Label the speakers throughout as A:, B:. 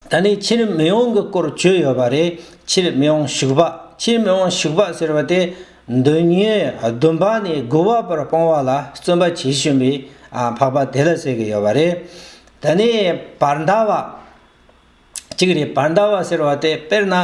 A: ད་ནི་ཕྱིར་མི་འོང་གི་སྐོར་བཅོས་ཡོད་པ་རེད་ཕྱིར་མི་འོང་ཞུགས་པ་ཕྱིར་མི་འོང་ཞུགས་པ་ཟེར་བ་དེ་འདོད་ཉོན་བདུན་པ་ནས་དགུ་བ་བར་སྤོང་བ་ལ་བརྩོན་པ་བྱེད་བཞིན་པའི་འཕགས་པ་དེ་ལ་ཟེར་གྱི་ཡོད་པ་རེད། ད་ནི་བར་མཐའ་བ། གཅིག་རེད་བར་མཐའ་བ་ཟེར་བ་དེ་དཔེར་ན་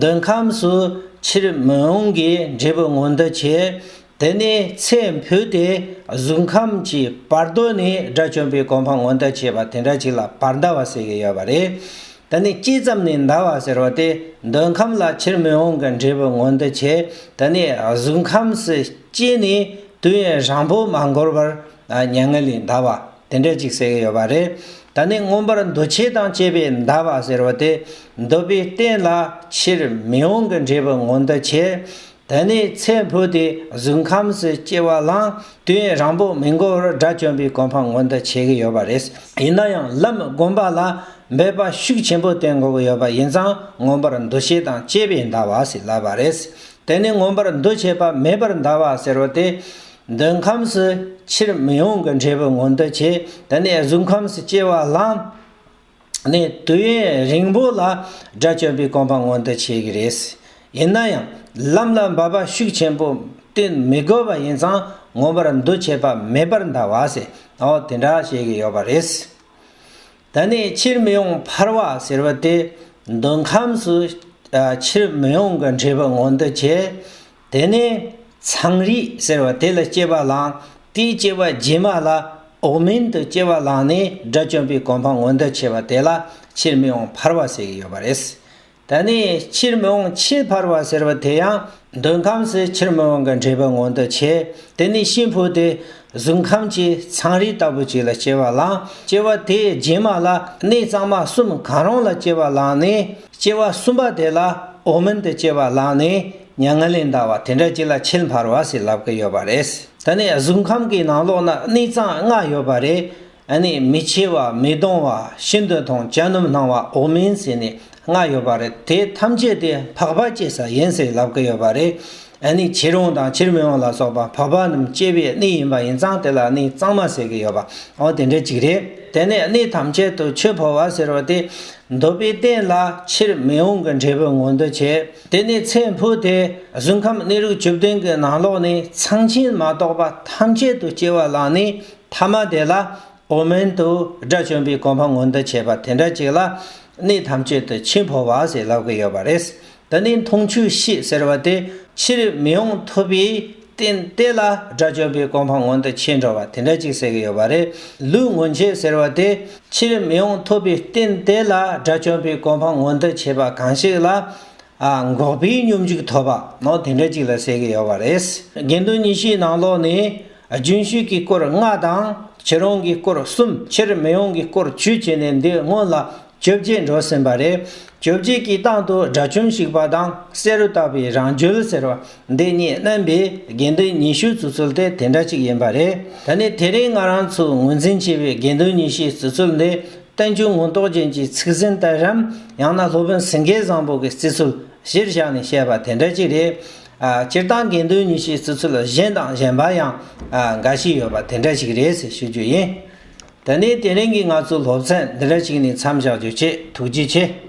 A: འདོད་ཁམས་སུ་ཕྱིར་མི་འོང་གི་འབྲས་བུ་ངོ་འདི་བྱས་དེ་ནས་ཚེ་འཕོས་ཏེ་གཟུགས་ཁམས་ཀྱི་བར་གདོད་ནས་དགྲ་བཅོམ་པའི་གོ་འཕང་མངོན་དུ་བྱས་པ་དེ་འདྲ་ཅིག་ལ་བར་འདའ་བ་ཟེར་གྱི་ཡོད་པ་རེད། དེ་ནི་ཅི་ཙམ་ནས་འདའ་བ་ཟེར་བ་དེ་འདོད་ཁམས་ལ་ཕྱིར་མི་འོང་གི་འབྲས་བུ་མངོན་དུ་བྱས་དེ་ནས་གཟུགས་ཁམས་སུ་སྐྱེས་ནས་དུས་ཡུན་རིང་པོ་མ་འགོར་བར་མྱ་ངན་ལས་འདའ་བ་དེ་འདྲ་ཅིག་ཟེར་གྱི་ཡོད་པ་རེད། དེ་ནི་མངོན་པར་འདུ་བྱེད་དང་བཅས་པས་འདའ་བ་ཟེར་བ་དེ་འདོད་པའི་རྟེན་ལ་ཕྱིར་མི་འོང་གི་འབྲས་བུ་མངོན་དུ་བྱས་དེ་ནས་ཚེ་འཕོས་ཏེ་གཟུགས་ཁམས་སུ་སྐྱེ་བ་བླངས། དུས་ཡུན་རིང་པོ་མི་འགོར་བར་དགྲ་བཅོམ་པའི་གོ་འཕང་མངོན་དུ་བྱེད་ཀྱི་ཡོད་པ་རེད། ཡིན་ན་ཡང་ལམ་བསྒོམ་པ་ལ་འབད་པ་ཤུགས་ཆེན་པོ་བསྟེན་དགོས་ཀྱི་ཡོད་པ་ཡིན་ཙང་མངོན་པར་འདུ་བྱེད་དང་བཅས་པས་འདའ་བ་ཞིག་ལབ་པ་རེད། དེ་ནི་མངོན་པར་འདུ་བྱེད་པ་མེད་པར་འདའ་བ་ཟེར་བ་དེ། འདོད་ཁམས་སུ་ཕྱིར་མི་ཡོང་གི་འབྲས་བུ་མངོན་དུ་བྱེད་དེ་ནས་གཟུགས་ཁམས་སུ་སྐྱེ་བ་བླངས། ནས་དུས་ཡུན་རིང་པོ་ལ་དགྲ་བཅོམ་པའི་སྐོམ་པ་མངོན་དུ་བྱེད་ཀྱི་རེད། ཡིན་ན་ཡང་ལམ་ལ་འབབ་པ་ཤུགས་ཆེན་པོ་བསྟེན་མི་དགོས་པ་ཡིན་ཙང་ངོ་མར་འདུ་བྱེད་པ་མེད་པར་འདའ་བ་ཟེར་ཨོ་དེ་འདྲ་བྱེད་ཀྱི་ཡོད་པ་རེད། ད་ནི་ཕྱིར་མི་ཡོང་འཕར་བ་ཟེར་བ་དེ་འདོད་ཁམས་སུ་ཕྱིར་མི་ཡོང་གི་འབྲས་བུ་མངོན་དུ་བྱེད་དེ་ནས་ཚངས་རིས་ཟེར་བ་དེ་ལ་སྐྱེས་པ་བླངས། དེའི་སྐྱེས་པ་རྗེས་མ་ལ་འོག་མིན་དུ་སྐྱེས་པ་བླངས་ནས་དགྲ་བཅོམ་པའི་གོ་འཕང་ངོ་འདོད་ཆེ་བ་དེ་ལ་ཕྱིར་མི་འོང་འཕར་བ་ཟེར་གྱི་ཡོད་པ་རེད། ད་ནི་ཕྱིར་མི་འོང་ཆེས་འཕར་བ་ཟེར་བ་དེ་ཡང་འདོད་ཁམས་སུ་ཕྱིར་མི་འོང་གི་འདྲེས་པ་ངོ་འདོད་ཆེ། དེ་ནས་ཤིང་ཕུ་དེ་གཟུགས་ཁམས་ཀྱི་ཚངས་རིས་ལྟ་བུ་ཅིག་ལ་སྐྱེས་པ་བླངས། སྐྱེས་པ་དེའི་རྗེས་མ་ལ་གནས་གཙང་མ་གསུམ་གང་རུང་ལ་སྐྱེས་པ་བླངས་ནས་སྐྱེས་པ་གསུམ་པ་དེ་ལ་འོག་མིན་དུ་སྐྱེས་པ་བླངས་ནས། མྱ་ངན་ལས་འདའ་བ་དེ་འདྲ་ཅིག་ལ་ཕྱིར་འཕར་བ་ཞིག་ལབ་ཀི་ཡོད་པ་རེད། ད་ནི་གཟུགས་ཁམས་ཀྱི་ནང་ལོགས་ན་གནས་གཙང་ལྔ་ཡོད་པ་རེད། ནི་མི་འཆི་བ་མི་གདུང་བ་ཤིན་དུ་དང་གྱ་ནོམ་སྣང་བ་འོག་མིན་ཞེས་ནི་ལྔ་ཡོད་པ་རེད་དེ་ཐམས་ཅད་དེ་འཕགས་པ་སྐྱེ་ས་ཡིན་ཞེས་ལབ་ཀི་ཡོད་པ་རེད། ནི་བྱེད་རུང་དང་བྱེད་མི་རུང་ལ་སོགས་པ་འཕགས་པ་རྣམས་སྐྱེ་བའི་གནས་ཡིན་པ་ཡིན་ཙང་དེ་ལ་གནས་གཙང་མ་ཟེར་གི་ཡོད་པ་འང་དེ་འདྲ་ཅིག་རེད། དེ་ནས་གནས་ཐམས་ཅད་དུ་ཆོས་འཕོ་བ་ཟེར་བ་དེ་འདོད་པའི་རྟེན་ལ་ཕྱིར་མི་འོང་གི་འབྲས་བུ་མངོན་དུ་བྱེད། དེ་ནས་ཚེ་འཕོས་ཏེ་གཟུགས་ཁམས་གནས་རིགས་བཅུ་བདུན་གྱི་ནང་ལོགས་ནས་ཚངས་ཆེན་མ་གཏོགས་པ་ཐམས་ཅད་དུ་སྐྱེ་བ་བླངས་ནས་ཐ་མ་དེ་ལ་འོག་མིན་དུ་དགྲ་བཅོམ་པའི་གོ་འཕང་མངོན་དུ་བྱེད་པ་དེ་འདྲ་ཅིག་ལ་གནས་ཐམས་ཅད་དུ་འཆི་འཕོ་བ་ཞེས་ལབ་ཀྱི་ཡོད་པ་རེད། འདི་ནི་འཐུང་ཆུའི་གཤིས་ཟེར་བ་དེ་ཕྱིར་མི་ཡོང་ཐུབ་པའི་རྟེན་གཏེར་ལ་སྒྲ་སྦྱོར་བའི་གོ་འཕང་མངོན་དུ་ཕྱིན་འགྲོ་བ་དེ་འདྲ་ཅིག་ཟེར་གྱི་ཡོད་པ་རེད། ལུས་མངོན་བྱེད་ཟེར་བ་དེ་ཕྱིར་མི་ཡོང་ཐུབ་པའི་རྟེན་གཏེར་ལ་སྒྲ་སྦྱོར་བའི་གོ་འཕང་མངོན་དུ་བྱེད་པ་གང་ཞིག་ལ། འགོག་པའི་སྙོམས་འཇུག་ཐོབ་པ་ནོ་དེ་འདྲ་ཅིག་ལ་ཟེར་གྱི་ཡོད་པ་རེད། དགེ་འདུན་ཉི་ཤུའི་ནང་ལོགས་ནས་རྒྱུན་ཞུགས་ཀྱི་སྐོར་ལྔ་དང་བྱེ་རོང་གི་སྐོར་གསུམ་ཕྱིར་མི་ཡོང་གི་སྐོར་བཅུ་བྱས་ནས་འདི་སྔོན་ལ་བཅོ་བརྒྱད་འགྲོ་ཟིན་པ་རེད། བཅོ་བརྒྱད་ཀྱི་སྟེང་དུ་དགྲ་བཅོམ་ཞིག་པ་དང་བསེ་རུ་བཏགས་པའི་རང་འགྱུལ་ཟེར་བ་འདི་གཉིས་བསྣན་པའི་དགེ་འདུན་ཉི་ཤུའི་བརྫུ་ཚུལ་དེ་དེ་འདྲ་ཅིག་ཡིན་པ་རེད། ད་ནི་དེ་རིང་ང་རང་ཚོས་ངོས་འཛིན་བྱས་པའི་དགེ་འདུན་ཉི་ཤུའི་བརྫུ་ཚུལ་འདི་བསྟན་འགྱུར་ངོ་མདོག་ཅན་གྱི་ཚིག་ཟིན་ལྟར་རམ་ཡང་ན་སློབ་དཔོན་སེང་གེ་བཟང་པོ་གི་བརྩི་ཚུལ་གཞིར་བཞག་ནས་བཤད་པ་དེ་འདྲ་ཅིག་རེད། སྤྱིར་བཏང་དགེ་འདུན་ཉི་ཤུའི་བརྩི་ཚུལ་གཞན་དང་གཞན་པ་ཡང་འགའ་ཞིག་ཡོད་པ་དེ་འདྲ་ཞིག་རེད་ཟེར་ཞུ་རྒྱུ་ཡིན། ད་ནི་དེ་རིང་གི་ང་ཚོའི་སློབ་ཚན་འདི་འདྲ་ཞིག་ནས་མཚམས་བཞག་རྒྱུ་བཅས་ཐུགས་རྗེ་ཆེ།